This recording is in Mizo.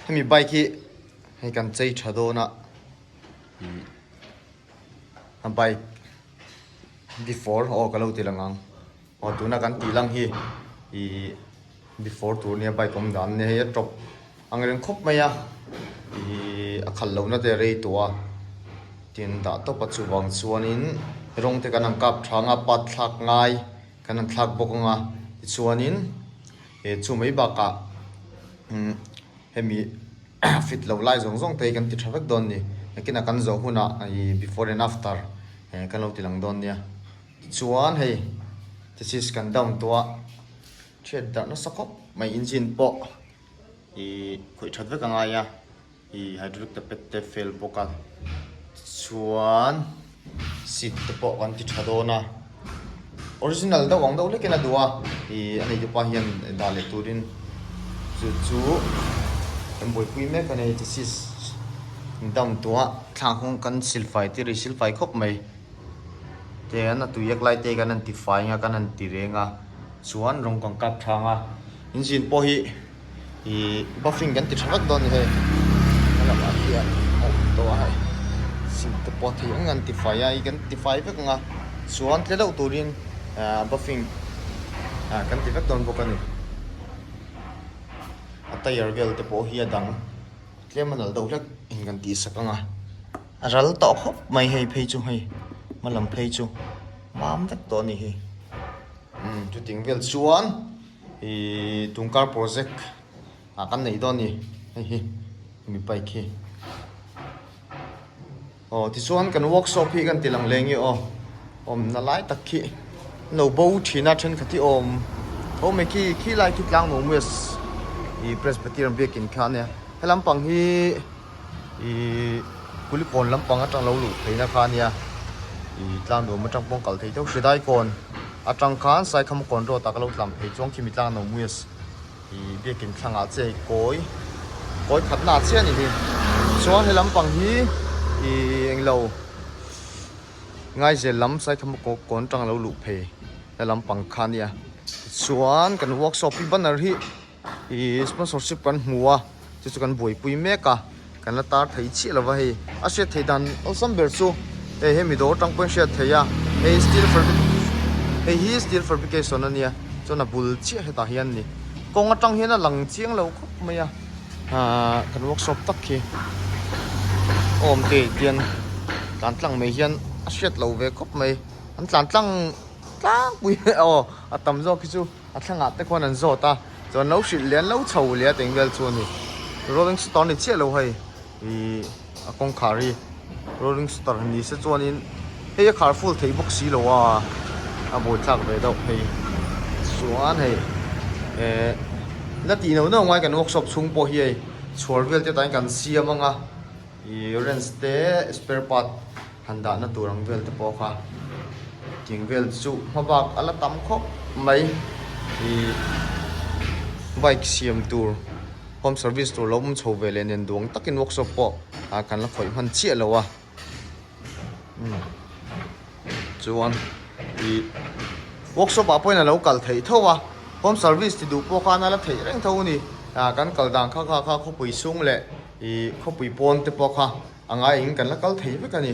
hemi bike hi hei kan chei tha dawn a a bike before aw ka lo ti lang ang aw tuna kan tih lang hi i before tur nia bike awm dan nia hei a tawp ang reng khawp mai a i a khal loh na te a rei tawh a tin dah tawp a chuvang chuanin rawng te kan ang kap tha ang a patthlak ngai kan ang thlak bawk ang a tichuanin. He chu mai bakah hemi fit loh lai zawng zawng te hi kan ti tha vek dawn ni. Nakin a kan zawh huna before and after kan lo ti lang dawn nia. Tichuan hei thesis kan down tawh a thiat darh nasa khawp mai engine pawh khawih that vek a ngai a. Hei hydraulic te pet te fel bawk a, tichuan seat te pawh kan ti tha dawn a, original deuh ang deuh lekin a duh a, hei a neitu pa hian dah leh turin chu chu kan buaipui mek a ni, thesis dam tua thlak nghung kan silfai tir i silfai khawp mai, tiang a tuiek lai te kan han tifai ang a, kan han ti reng a, chuan rawng kan kap tha ang a, engine pawh hi ihh buffing kan ti tha vek dawn ni hei a lamah hian a awm tawh a hei sim te pawh thei ang an tifai a i kan tifai vek ang a chuan tle deuh turin ahh buffing ahh kan ti vek dawn bawk a ni a tyre vel te pawh hi a dang tlem a nalh deuh hlek in kan tih sak ang a a ral tawh khawp mai hei phei chu hei hmalam phei chu mam vek tawh a ni hi umm chuting vel chuan-- Tungkar project ah kan nei dawn ni hei hi hemi bike hi aw tichuan kan workshop hi kan tih lang leh nge aw awm nalai tak khi no bo thina thenkhat hi awm tho mai khi khi lai khi tlang no maws i presbyterian biakin kha a nia helampang hi. ih kulikawn lampang atang lo luh theihna kha ania ih tlang duam atang pawh kal thei deuh hre dai kawn atang khan saikha makawn rawt ah ka lo tlan phei chuan khi mi tlang nawmui a si ih biakin thlang ah che kawi kawi khat na chiah a nih hi chuan he lampang hi ih eng lo ngaizel lam saikha makawn atang lo luh phei na lampang kha ania tichuan kan workshop hi banner hi-- ihh sponsorship kan hmu a chu chu kan buaipui mek a kan la tar thei chiah lo va hei a hriat theih dan awlsam ber chu hei he mi dawr tang pawhin hriat theih a hei steel fabrication hei hi steel fabrication a nia chuan a bul chiah hetah hian ni kawng atang hian a lang chiang lo khawp mai a aaa kan workshop tak hi awm te ah hian tlan tlang mai hian a hriat lo ve khawp mai an tlan tlang tlangpui aw a tam zawk hi chu. A thlangah te khuan an zawt a, chuan an lo hrilh leh an lo chho leh a teng vel chu a ni. Rolling Stoter ni chiah lo hei ih a kawngkhar hi Rolling Stoter ni se chuanin hei a khar full theih bawk si lo a, a bawithlak ve deuh phei chuan hei eh la tih no no ngai kan workshop chhung pawh hi hei chhuar vel te tain kan siam ang a ih wrench te spare part -- Han dahna tur ang vel te pawh kha king vel chu hma bak a la tam khawp mai. Ih bike siam tur home service tur lo awm chho ve leh nen duang takin workshop pawh ah kan la khawih hman chiah lo a. Umm chuan ih workshop ah pawhin a lo kal theih tho a, home service ti duh pawh khan a la theih reng tho a ni. Ah kan kal dan kha kha kha khawpui chhung leh Ih khawpui pawn te pawh kha a ngai in kan la kal thei vek a ni.